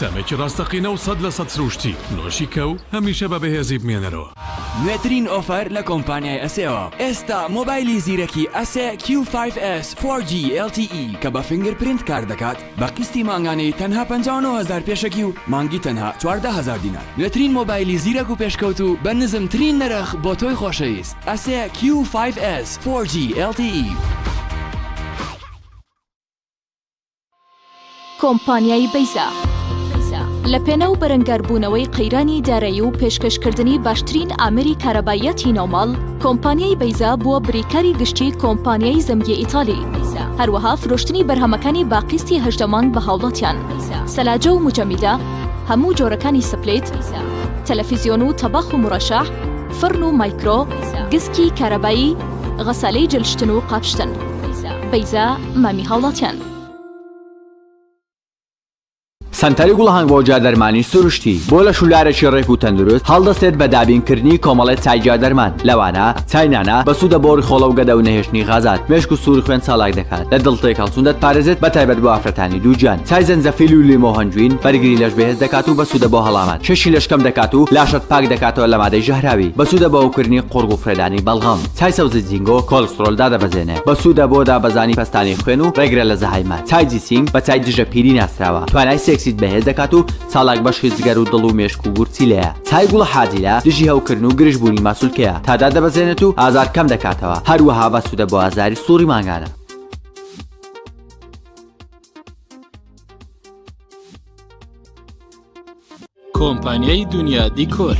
تامێکی ڕاستەقینە و سەد لە سەد سرووشتی، نۆشی کەو هەمیشە بە بەهێزی بمێنەرەوە. نوێترین ئۆفەر لە کۆمپانیای ئەسێوە، ئێستا مۆبایلی زیرەکی ئەسێ کیو فایڤ ئێس فۆر جی ئێل تی ئی کە بە فینگر پرینت کار دەکات بە قیستی مانگانەی تەنها پەنجا و نۆ هەزار پێشەکی و مانگی تەنها چواردە هەزار دینار. نوێترین مۆبایلی زیرەک و پێشکەوتوو بە نزمترین نرخ بۆ تۆی خۆشەویست، ئەسێ کیو فایڤ ئێس فۆر جی ئێل تی ئی. کۆمپانیای بەیزا لە پێناو بەرەنگاربوونەوەی قەیرانی دارایی و پێشکەشکردنی باشترین ئامێری کارەباییەتی ناوماڵ، کۆمپانیای بەیزا بووە بریکاری گشتی کۆمپانیای زەمگی ئیتالی، هەروەها فرۆشتنی بەرهەمەکانی بە قیستی هەژدە مانگ بە هاوڵاتیان، سەلاجە و موجەمیدە، هەموو جۆرەکانی سپلیت، تەلەفیزیۆن و تەباخ و مورەشەح، فڕن و مایکرۆ، گسکی کارەبایی، غەسالەی جل شتن و قاپ شتن. بەیزا. مامی هاوڵاتیان. سەنتەری گوڵهەنگ بۆ جادەرمانی سروشتی بۆ لەش و لارێکی ڕێک و تەندروست هەڵدەستێت بە دابینکردنی کۆمەڵێ چای جادەرمان لەوانە چای نانا بەسوودە بۆ ڕیخۆڵە و گەدە و نەهێشتنی غازات مێشک و سووری خوێن چالاک دەکات لە دڵ تێکهەڵچوون دەتپارێزێت بە تایبەت بۆ ئافرەتانی دووگیان چای زەنجەفیل و لیمۆ هەنجوین بەرگری لەش بەهێز دەکات و بەسوودە بۆ هەڵامەت کێشی لەش کەم دەکات و لاشەت پاک دەکاتەوە لە مادەی ژەهراوی بەسوودە بۆ ئەوکردنی قوڕگ و فڕێدانی بەڵغەم چای سەوزی زینگۆ کۆلسترۆل دادەبەزێنێت بەسوودە بۆ دابەزانی پەستانی خوێن و ڕێگرە لە زەهایمەر چای جیسینگ بە چای دژە پیری ناسراوە توانای سێکسیت بەهێز دەکات و چالاک بەشی جگەر و دڵ و مێشک و گورچیلەیە چای گوڵە حاجیلە دژی هەوکردن و گرژ بوونی ماسولکەیە تادا دەبەزێنێت و ئازار کەم دەکاتەوە هەروەها بەسوودە بۆ ئازاری سوڕی مانگانە کۆمپانیای دنیا دیکۆر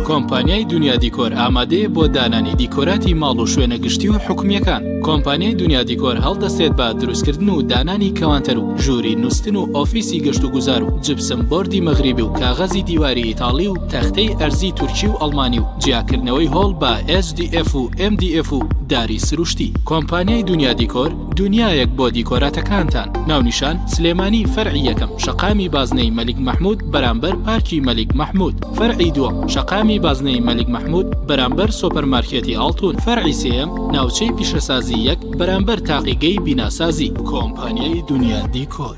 کۆمپانیای دنیا دیکۆر ئامادەیە بۆ دانانی دیکۆراتی ماڵ و شوێنە گشتی و حکومیەکان کۆمپانیای دنیا دیکۆر هەڵدەستێت بە دروستکردن و دانانی کەوانتەر و ژووری نووسن و ئۆفیسی گەشت و گوزار و جبسم بردی مەغریبی و کاغەزی دیواری ئیتاڵی و تەختەی ئەرزی تورکی و ئەڵمانی و جیاکردنەوەی هۆڵ بە SDF و MDF و داری سروشتی کۆمپانیای دنیا دیکۆر دونیایەک بۆ دیکۆراتەکانتان ناونیشان سلێمانی فەرعی یەکەم شەقامی بازنەی مەلیک مەحمود بەرامبەر پارکی مەلیک مەحمود فەرعی دووەم شەقامی بازنەی مەلیک مەحمود بەرامبەر سۆپەر مارکێتی ئاڵتون فەرعی سێیەم ناوچەی پیشەسازی یەک بەرامبەر تاقیگەی بیناسازی کۆمپانیای دونیا دیکۆر.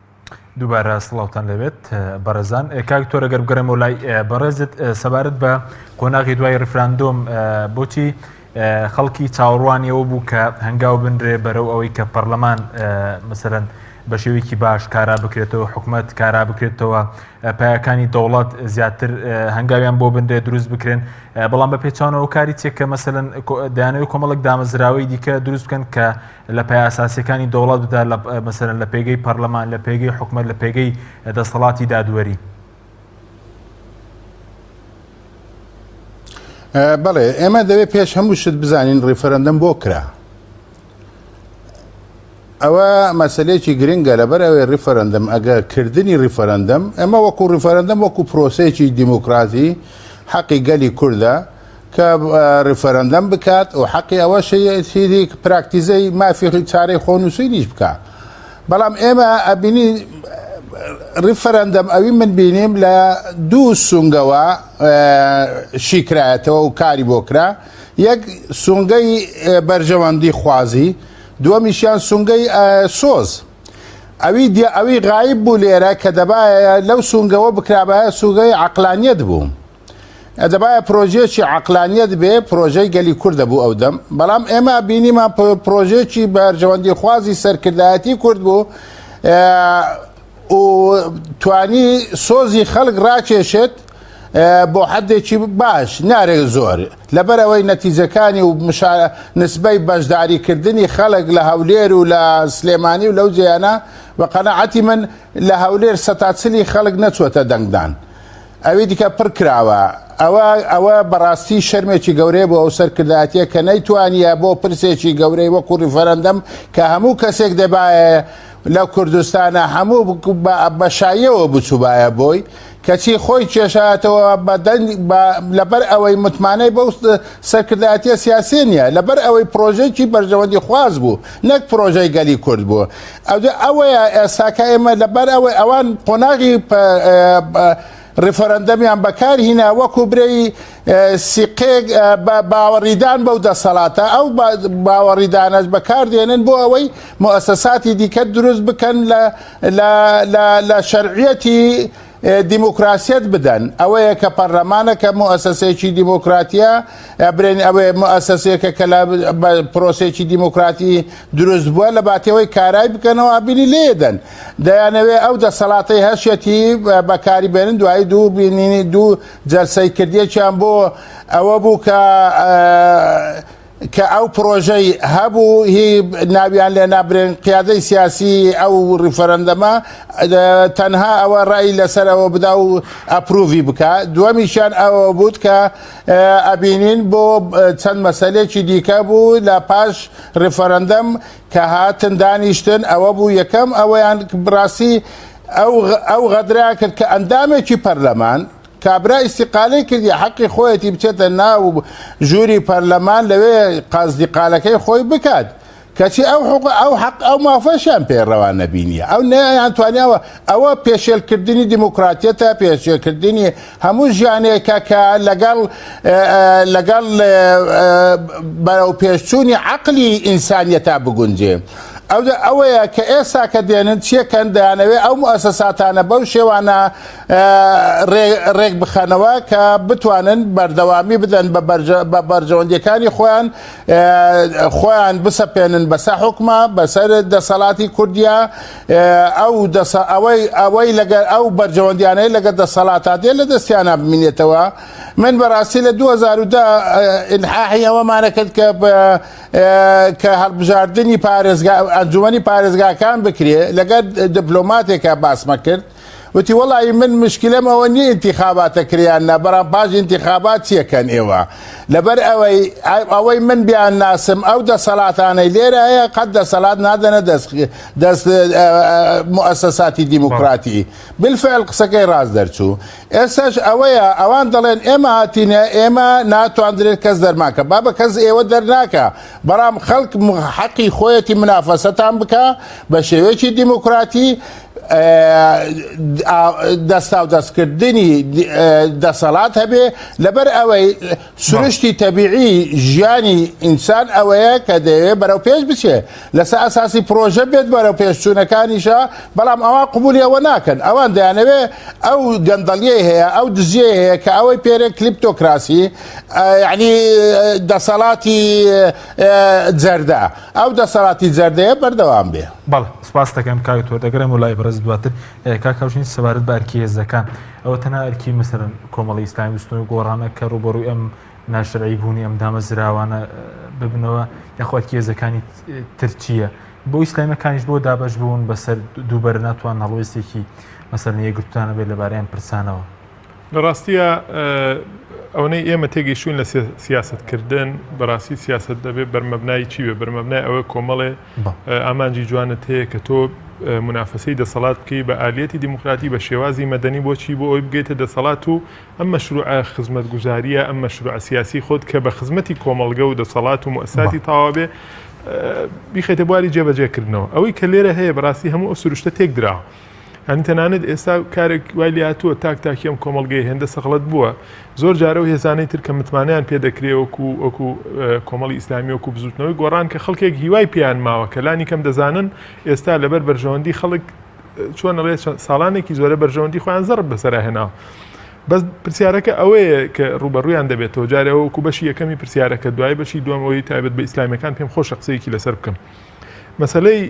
دووبارە سڵاوتان لەوێت بەڕێزان کاک تۆرە گەر بگەڕێمەوە لای بەڕێزت سەبارەت بە قۆناغی دوای ریفراندۆم بۆچی خەڵکی چاوەڕوانیەوە بوو کە هەنگاو بنرێ بەرەو ئەوەی کە پەرلەمان مەسەرەن بە شێوەیەکی باش کارا بکرێتەوە حکوومەت کارا بکرێتەوە پایەکانی دەوڵات زیاتر هەنگاویان بۆ بنرێ دروست بکرێن بەڵام بە پێچانەوە کاری چێک کە مەسەن دایانەوەی کۆمەڵک دامەزراوەی دیکە دروست بکەن کە لە پایە ئەساسیەکانی دەوڵەت بدا لە مەسەرەن لە پێگەی پەرلەمان لە پێگەی حکومەت لە پێگەی دەسەڵاتی دادوەری بەڵێ ئێمە دەوێت پێش هەموو شت بزانین ڕیفرەندەم بۆ کرا ئەوە مەسلەیەکی گرنگە لەبەر ئەوەی ڕیفرەندەم ئەگە کردنی ڕیفرەندەم ئەمە وەکو ڕیفرەندەم وەکو پرۆسەیەکی دیموکراتی حەقی گەلی کووردە کە ریفرندەم بکات و حەقی ئەوەشی پراکتیزەی مافی چارەی خۆنووسینیش بکا بەڵام ئێمە ئەبینی ریفرندەم ئەوی من بینیم لە دوو سونگەوە شیکرایەتەوە و کاری بۆ کرا یەک سونگەی بەرژەوەندی خوازی دووەمیشیان سونگەی سۆز ئەوی دی ئەوی غایب بوو لێرە کە دەبایە لەو سونگەوە بکرابایە سوگەی عقلانیت بوو. ئە دەبایە پرۆژەیەکی عەقلانیەت بێ پرۆژەی گەلی کورد دەبوو ئەو دەم بەڵام ئێمە بینیمان پرۆژەیەکی بەرژەوەندی خوازی سەرکردایەتی کورد بوو و توانی سۆزی خەڵک ڕاکێشێت بۆ حدێکی باش نارێک زۆر لەبەر ئەوەی نەتیجەکانی و نسبەی بەشداریکردنی خەڵک لە هەولێر و لە سلێمانی و لەو جیانە بە قەنەعەتی من لە هەولێر سەتاچلی خەڵک نەچوەتە دەنگدان. ئەوی دیکە پڕ کراوە. ئەوە ئەوە بەڕاستی شەرمێکی گەورەیە بۆ ئەو سەرکردایەتیە کە نەیتوانیە بۆ پرسێکی گەورەی وەکو ڕیفەرەندەم کە هەموو کەسێک دەبایە لە کوردستانا هەموو بە شاییەوە بچوبایە بۆی کەچی خۆی کێشایەتەوە بە دەنگ لەبەر ئەوەی متمانەی بەو سەرکردایەتیە سیاسیە نیە لەبەر ئەوەی پرۆژەیەکی بەرژەوەندی خواز بوو نەک پرۆژەی گەلی کورد بوو ئەوجا ئەوەیە ئێستاکە ئێمە لەبەر ئەوەی ئەوان قۆناغی ڕیفەرەندەمیان بەکارهینا وەکو برەی سیقێک بە باوەڕیدان بەو دەسەڵاتە ئەو باوەڕیدانەش بەکاردێنن بۆ ئەوەی مؤسساتی دیکە دروست بکەن لە شەرعەتی دیموکراسیەت بدەن ئەوەیە کە پەرلەمانە کە موسەسەیەکی دیموکراتیە برێن ئەوێ موسەسەیەکە کە لە پرۆسێکی دیموکراتی دروست بووە لە باتەوەی کارای بکەنەوە ئابینی لێدەن دەیانەوێ ئەو دەسەڵاتی هەشیەتی بەکاری بێنن دوایی دوو بینینی دوو جەلسەی کردیەکیان بۆ ئەوە بوو کە کە ئەو پرۆژەی هەبوو هی ناویان لێ نابرێن قیادەی سیاسی ئەو ریفرەندەمە تەنها ئەوە ڕای لەسەر ئەوە بدا و ئەپروڤی بکە دووەمیشیان ئەوە بوت کە ئەبینین بۆ چەند مەسلێکی دیکە بوو لە پاش ریفرەندەم کە هاتن دانیشتن ئەوە بوو یەکەم ئەوەیان بڕاستی ئەو غەدرا کرد کە ئەندامێکی پەرلەمان کابرا ئیستیقالەی کردیە حەقی خۆیەتی بچێتە ناو ژووری پەرلەمان لەوێ قازدیقالەکەی خۆی بکات کەچی ئەو حق ئەو حق ئەو مافەشیان پێ ڕەوان نەبینیە ئەو نەیان توانیاوە ئەوە پێشێلکردنی دیموکراتیەتە پێشێکردنی هەموو ژیانێکە کە لەگەڵ لەگەڵ بەرەو پێشچوونی عقلی ئینسانیەتا بگونجێ ئەودا ئەوەیە کە ئێستا کە دێنن چیەکەن دەیانەوێ ئەو موسەساتانە بەو شێوانە رێکبخەنەوە کە بتوانن بەردەوامی بدەن بە بەرژەوەندیەکانی خۆیان خۆیان بسەپێنن بەسە حکومە بەسەر دەسەڵاتی کوردیا ئەو ئەوەی ئەوەی لەگەر ئەو بەرژەوەندیانەی لەگە دەسەڵاتا دێ لە دەستیانە بمینێتەوە من بەڕاستی لە 2010 ئینحاحی ئەوەمانە کرد کە کە هەڵبژاردننی پارێزگا ئەنجومی پارێزگاکان بکرێ لەگەر دبلۆماتێکە باسمە کرد وتی وەڵایی من مشکلەم ئەوە نیە ئینتیخاباتە کرێ یان نا بەرام پاش ئینتیخابات چیەکەن ئێوە لەبەر ئەوەی ئەوەی من بیان ناسم ئەو دەسەلاتانەی لێرە هەیە قەت دەسەلات نادەنە دەست دەست موسەساتی دیموکراتی بالفعل قسەکەی ڕاست دەرچوو ئێسش ئەوەیە ئەوان دەڵێن ئێمە هاتینە ئێمە ناتواندرێت کەس دەرماکە با بە کەس ئێوە دەرناکە بەڵام خەڵک حەقی خۆیەتی منافەسەتان بکە بە شێوەیەکی دیموکراتی دەستاودەستکردنی دەسەڵات هەبێ لەبەر ئەوەی سروشتی تەبیعی ژیانی ئینسان ئەوەیە کە دەیەوێ بەرەو پێش بچێ لەسەر ئەساسی پرۆژە بێت بەرەو پێشچوونەکانیشە بەڵام ئەوە قوبولی ئەوە ناکەن ئەوان دەیانەوێ ئەو گەندەڵیەی هەیە ئەو دزیە هەیە کە ئەوەی پێرێ کلیپتۆکراسی یعنی دەسەڵاتی جەردە ئەو دەسەڵاتی جەردەیە بەردەوام بێ بەڵێ سپاستەکەم کاک تۆ دەگەرێمەوە لای بەڕێز دواتر کاک هاوژین سەبارەت بە ئەرکی هێزەکان ئەوە تەنها ئەرکی مەسەرن کۆمەڵی ئیسلامی بستنەوەی گۆڕانە کە ڕوبەڕووی ئەم ناشرعی بوونی ئەم دامەزراوانە ببنەوە یاخواکی هێزەکانی ترچیە بۆ ئیسلامەکانیش بۆ دابش بوون بەسەر دووبەر ناتوان هەڵوێستێکی مەسەر یەکگرتوانە بێت لەبارەیان پرسانەوە لە ڕاستیە ئەوەی ئێمە تێگەیشتون لە سیاستکردن بەڕاستی سیاست دەبێت بەرمەبنای چی بێ بەرمەبنای ئەوە کۆمەڵێ بە. ئامانجی جوانت هەیە کە تۆ منافەسەی دەسەڵات بکەی بە ئالیەتی دیموکراتی بە شێوازی مەدەنی بۆ چی بۆ ئەوی بگەیتە دەسەڵات و ئەم مەشروعە خزمەتگوزاریە ئەم مەشروعە سیاسی خۆت کە بە خزمەتی کۆمەڵگە و دەسەڵات و موئەسساتی تەواو بێ بیخەیتە بواری جێبەجێ کردنەوە ئەوەی کە لێرە هەیە بەڕاستی هەموو ئەو سروشتە تێک دراوە. یانی تەنانەت ئێستا کارێک وای لاتووە تاک تاکی ئەم کۆمەلگەی هێندە سەغڵەت بووە زۆر جارە و هێزانەی تر کە متمانیان پێ دەکرێ وەکو وەکو کۆمەڵی ئیسلامی وەکو بزوتنەوەی گۆڕان کە خەڵکێک هیوای پێیان ماوە کە لانی کەم دەزانن ئێستا لەبەر بەرژەوەندی خەڵک چۆن ڕێ ساڵانێکی زۆرە بەرژەوەندی خۆیان زەڕ بەسەرا هێناوە بەس پرسیارەکە ئەوەیە کە ڕوبەڕویان دەبێتەوە جارەوەکو بەشی یەکەمی پرسیارەکە دوای بەشی دوم ئەوی تایبەت بە ئیسلامیەکان پێم خۆشە قسەیەکی لەسەر بکەم. مەسەلەی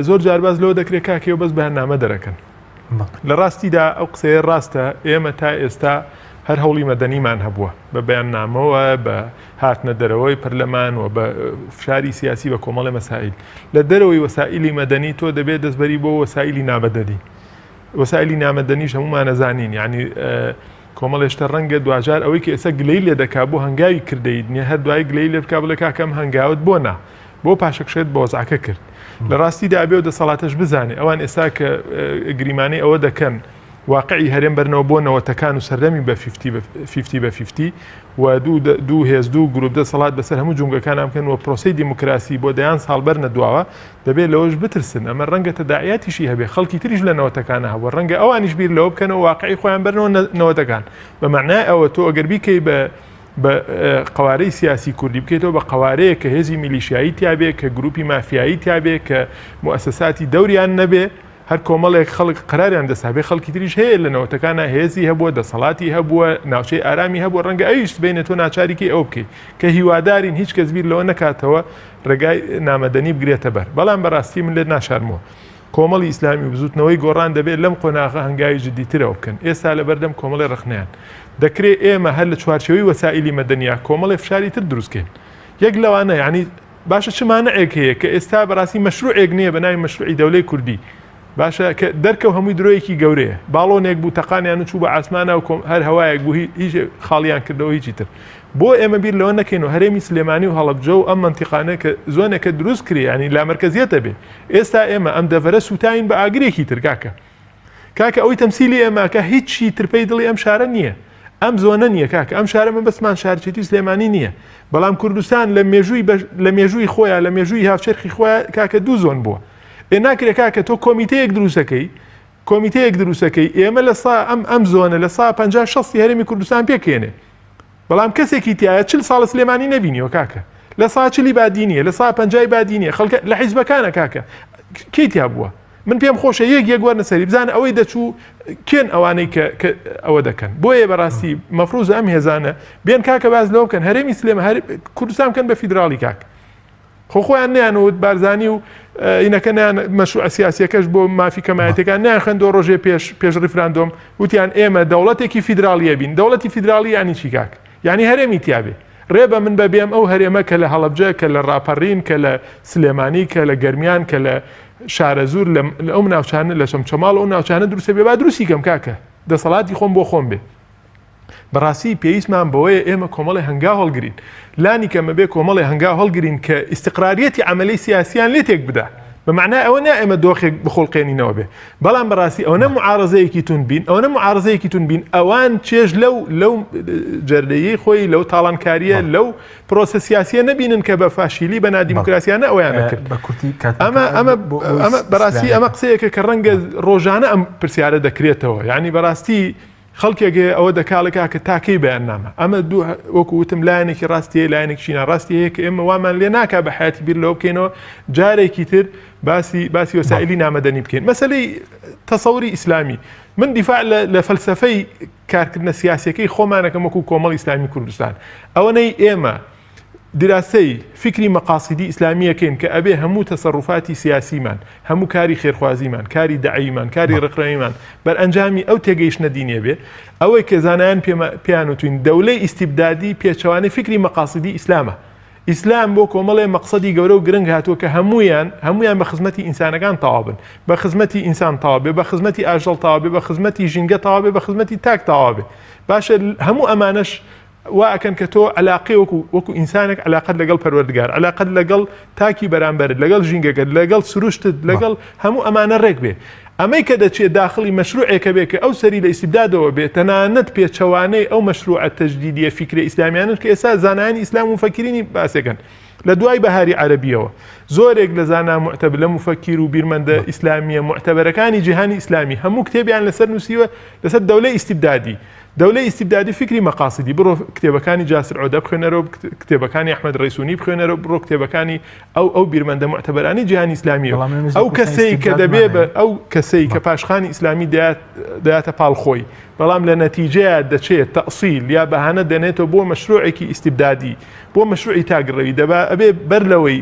زۆر جارباز لەوە دەکرێت کاکەوە بەس بەرنامە دەرەکەن لە ڕاستیدا ئەو قسەیە ڕاستە ئێمە تا ئێستا هەر هەوڵی مەدەنیمان هەبووە بە بەیان نامەوە بە هاتنە دەرەوەی پەرلەمان و بە فشاری سیاسی بە کۆمەڵی مەسائیل لە دەرەوەی وەسائلی مەدەنی تۆ دەبێت دەستبەری بۆ وەسائلی نابەدەنی وەسائلی نامەدەنیش هەمومانەزانین یعنی کۆمەڵێشتە ڕەنگە دواجار ئەوەی کە ئێستا گلەی لێ دەکا بۆ هەنگاوی کردەیت نیە هەر دوای گلەی لێ بک بڵێ کاکەم هەنگاوت بۆ نا بۆ پاشەکشێت بە وەزعەکە کرد لە ڕاستیدا بێ و دەسەڵاتەش بزانێ ئەوان ئێستا کە گریمانەی ئەوە دەکەن واقعی هەرێم بەرنەوە بۆ نەوەتەکان و سەردەمی بە 50 بە 50 و دوو هێز دوو گروپ دەسەڵات بەسەر هەموو جونگەکان ئەمکەن و پرۆسی دیموکراسی بۆ دەیان ساڵ بەر نەدواوە دەبێت لەوەش بترسن ئەمە ڕەنگە تەداعاتیشی هەبێ خەڵکی تریش لە نەوەتەکانە هەبوو ڕەنگە ئەوانیش بیر لەوە بکەنەوە واقعی خۆیان بەرنەوە نەوەتەکان بەمانای ئەوە تۆ ئەگەربیکەی بە بە قەوارەی سیاسی کوردی بکەیتەوە بە قەوارەیە کە هێزی میلیشایی تیاابێ کە گروپی مافیایی تیاابێ کە موسەساتی دەوریان نەبێ هەر کۆمەڵێک خەڵک قراریان دەسابێ خەڵکی تریش هەیە لە نەوەتەکانە هێزی هەبووە دەسەڵاتی هەبووە ناوچەی ئارامی هەبوو ڕەنگە ئەویش بینە تۆ ناچاریکی ئەو بکەیت کە هیوادارین هیچ کەس بیر لەوە نکاتەوە ڕێگای نامەدەنی بگرێتە بەر بەڵام بەڕاستی من لێت ناشارمەوە کۆمەڵی ئیسلامی و بزووتنەوەی گۆڕان دەبێت لەم قۆناغە هەنگاوی جددیترەوە بکەن، ئێستا لەبەردەم کۆمەڵی ڕەخنەیان. دەکرێت ئێمە هەر لە چوارچێوەی وەسائیلی مەدەنییە کۆمەڵێ فشاری تر دروست کەین. یەک لەوانە یانی باشە چ مانعێک هەیە کە ئێستا بەڕاستی مەشروعێک نییە بە ناوی مەشروعی دەولەی کوردی. باشە کە دەرکەو هەمووی درۆیەکی گەورەیە باڵۆنێک بوو تەقانیان و چوو بە ئاسمانە و کۆم هەر هەوایەک بوو هیچ خاڵیان کردەوە هیچی تر بۆ ئێمە بیر لەوە نەکەین و هەرێمی سلێمانی و هەڵەبجە و ئەم منتیقانە کە زۆنێکە دروست کرێ ینی لامەرکزیەتە بێ ئێستا ئێمە ئەم دەڤەرە سووتاوین بە ئاگرێکی تر کاکە. کاکە ئەوەی تەمسیلی ئێمە ئەکا هیچی تر پەی دڵی ئەم شارە نییە. ئەم زۆنە نییە کاکە، ئەم شارە مەبەستمان شارچێتی سلێمانی نییە. بەڵام کوردستان لە مێژووی بەش لە مێژووی خۆیان لە مێژووی هاوچەرخی خۆیان کاکە دوو زۆن بووە. ئێ ناکرێ کاکە تۆ کۆمیتەیەک دروست دەکەی، کۆمیتەیەک دروست دەکەی ئێمە لە سا ئەم ئەم زۆنە لە سا پەنجا شەستی هەرێمی کوردستان پێک هێنێ. بەڵام کەسێکی تایە چل ساڵە سلێمانی نەبینیوە کاکە لە سا چلی بادی نیە لە سا پەنجای بادی نیە خەڵکە لە حیزبەکانە کاکە کەی تیا بووە من پێم خۆشە یەک یەک وەرنە سەری بزانە ئەوەی دەچوو کێن ئەوانەی کە ئەوە دەکەن بۆیە بەڕاستی مەفروز ئەم هێزانە بێن کاکە باز لەوە بکەن هەرێمی سلێمە هەر کوردستان بکەن بە فیدراڵی کاک خۆ خۆیان نیانوت بارزانی و ئینەکە نیان مەشروع سیاسیەکەش بۆ مافی کەمایەتەکان نیان خوێندۆ ڕۆژێ پێش پێش ڕیفراندۆم وتیان ئێمە دەوڵەتێکی فیدراالیە بین دەوڵەتی فیدراالی ینی چیکاک ینی هەرێمی تیاابێ ڕێ بە من بەبێم ئەو هەرێمە کە لە هەڵبجە کە لە ڕاپەڕین کە لە سلێمانی کە لە گەرمیان کە لە شارە زور لە ئەو ناوچانە لە شەم چەماڵ ئەو ناوچانە دروستە بێ با دروستی کەم کاکە دەسەڵاتی خۆم بۆ خۆم بێ بەڕاستی پێویستمان بەوەیە ئێمە کۆمەڵی هەنگاو هەڵگرین، لانی کەم ئەبێ کۆمەڵی هەنگاو هەڵگرین کە ئیستقراریەتی عەمەلی سیاسییان لێ تێک بدا، بە مەعنای ئەوە نا ئێمە دۆخێک بخوڵقێنینەوە بێ، بەڵام بەڕاستی ئەوەنە موعارەزەیەکی توند بین، ئەوەنە موعارەزەیەکی توند بین، ئەوان چێژ لەو لەو جەردەیی خۆی لەو تاڵانکارییە لەو پرۆسە سیاسییە نەبینن کە بە فاشیلی بە نادیموکراسیانە ئەویانە کرد بە کورتی کات ئەمە ئەمە ئەمە بەڕاستی ئەمە قسەیەکە کە ڕەنگە ڕۆژانە ئەم پرسیارە دەکرێتەوە یعنی بەڕاستی خەڵکێک هەیە ئەوە دەکاڵێک کاکە تا کەی بەیاننامە؟ ئەمە دوو وەکو وتم لایەنێکی ڕاستی هەیە لایەنێکیشی ناڕاستی هەیە کە ئێمە وامان لێ ناکا بە حیاتی بیر لەوە بکەینەوە جارێکی تر باسی باسی وسائلی نامەدەنی بکەین مەسلەی تەسەوری ئیسلامی من دیفاع لە لە فەلسفەی کارکردنە سیاسەکەی خۆمانەکەم وەکو کۆمەڵ ئیسلامی کوردستان ئەوەنەی ئێمە دراسەی فیکری مەقاسیدی ئیسلامی یەکەین کە ئەبێ هەموو تەسەڕوفاتی سیاسیمان، هەموو کاری خێرخوازیمان، کاری دەعەویمان، کاری ڕێکخراویمان بەرئەنجامی ئەو تێگەیشتنە دینییە بێ. ئەوەی کە زانایان پێیان وتووین دەولەی ئیستیبدادی پێچەوانەی فیکری مەقاسیدی ئیسلامە. ئیسلام بۆ کۆمەڵێ مەقسەدی گەورە و گرنگ هاتووە کە هەموویان هەموویان بە خزمەتی ئینسانەکان تەواو بن. بە خزمەتی ئینسان تەواو بێ، بە خزمەتی ئاژەڵ تەواو بێ، بە خزمەتی ژینگە تەواو بێ، بە خزمەتی تاک تەواو بێ. باشە هەموو ئەمانەش وا ئەکەن کە تۆ عەلاقەی وەکو وەکو ئینسانێک عەلاقەت لەگەڵ پەروەردگار، عەلاقەت لەگەڵ تاکی بەرامبەرت، لەگەڵ ژینگەکەت، لەگەڵ سروشتت، لەگەڵ هەموو ئەمانە رێک بێ. ئەمەی کە دەچێ داخڵی مەشرووعێکە بێ کە ئەو سەری لە ئیستیبدادەوە بێ، تەنانەت پێچەوانەی ئەو مەشرووعە تەجدیدییە فیکرە ئیسلامییانەش کە ئێستا زانایانی ئیسلام و موفەکیرینی باس ئەکەن. لە دوای بەهاری عەرەبییەوە زۆرێک لە زانا موعتەبلە موفەکیر و بیرمەندە ئیسلامییە موعتەبەرەکانی جیهانی ئیسلامی هەموو کتێبیان لەسەر نووسیوە لەسەر دەولەی ئیستیبدادی، دەولەی ئیستیبدادی فیکری مەقاسیدی بڕۆ کتێبەکانی جاسر عۆدە بخوێنەرۆ کتێبەکانی ئەحمەد رەیسونی بخوێنەرۆ بڕۆ کتێبەکانی ئەو ئەو بیرمەندە موعتەبەرانی جیهانی ئیسلامیە ئەو کەسەی کە دەبێ بە ئەو کەسەی کە پاشخانی ئیسلامی دەات دەاتە پاڵ خۆی بەڵام لە نەتیجەیە دەچێت تەئسیل یا بەهانە دەنێتەوە بۆ مەشروعێکی ئیستیبدادی بۆ مەشروعی تاگڕەوی دەبا ئەبێ بەر لەوەی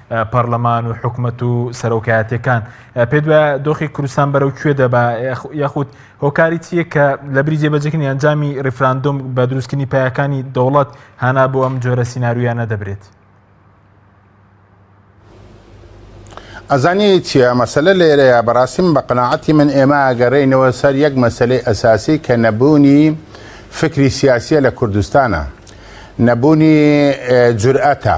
پەرلەمان و حکومەت و سەرۆکایەتەکان پێ دوایە دۆخی کوردستان بەرەو کوێ دەبا یاخود هۆکاری چیە کە لە بری جێبەجەکردنی ئەنجامی ریفراندۆم بە دروستکردنی پایەکانی دەوڵەت هانا بۆ ئەم جۆرە سیننارویانە دەبرێت. ئەزانانی چیە مەسلە لێرەیە بەڕاستی من بە قەنەعەتی من ئێمە ئەگەڕێینەوە سەر یەک مەسلەی ئەساسی کە نەبوونی فکری سیاسیە لە کوردستانە نەبوونی جورئەتە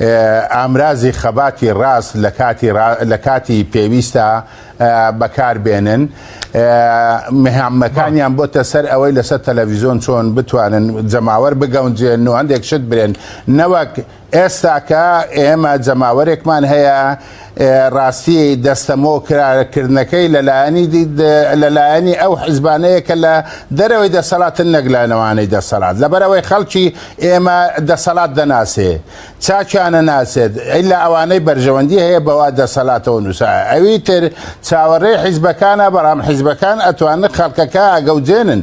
ئامرازی خەباتی ڕاست لە کاتی پێویستدا بەکار بێنن. مهامەکانیان بۆتە سەر ئەوەی لەسەر تەلەڤیزۆن چۆن بتوانن جەماوەر بگەونجێن و هەندێک شت برێن. نەوەک ئێستا کە ئێمە جەماوەرێکمان هەیە، ڕاستی دەستەمۆ کردنەکەی لەلایەنی ئەو حزبانەیە کە لە دەرەوەی دەسەڵاتن نەک لە نەوانەی دەسەڵات لەبەرەوەی خەڵکی ئێمە دەسەڵات دەناسێ چاکیانە ناسێت ئیلا ئەوانەی بەرژەوەندی هەیە بەوا دەسەڵاتەوە نووسە ئەوی تر چاوەڕێ حیزبەکانە بەڵام حیزبەکان ئەتوانن خەڵکەکە ئەگەوجێنن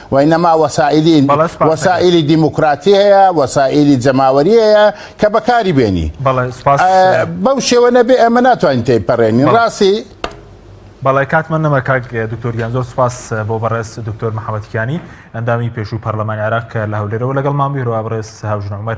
وەی نەما وەسائیلی بەڵێ سوپاس ئەکەم. وەسائیلی دیموکراتی هەیە، وەسائیلی جەماوەری هەیە کە بەکاری بێنی. بەڵێ سوپاس. ئە بەو شێوە نەبێ ئێمە ناتوانین تێیپەڕێنین. بەڵێ. ڕاستی. بەڵێ کاتمان نەما کاک دکتۆر گیان زۆر سوپاس بۆ بەڕێز دکتۆر محەمەد کیانی ئەندامی پێشووی پەرلەمانی عێراق کە لە هەولێرەوە لەگەڵمان بوو هەروەها بەڕێز هاوژن عومەر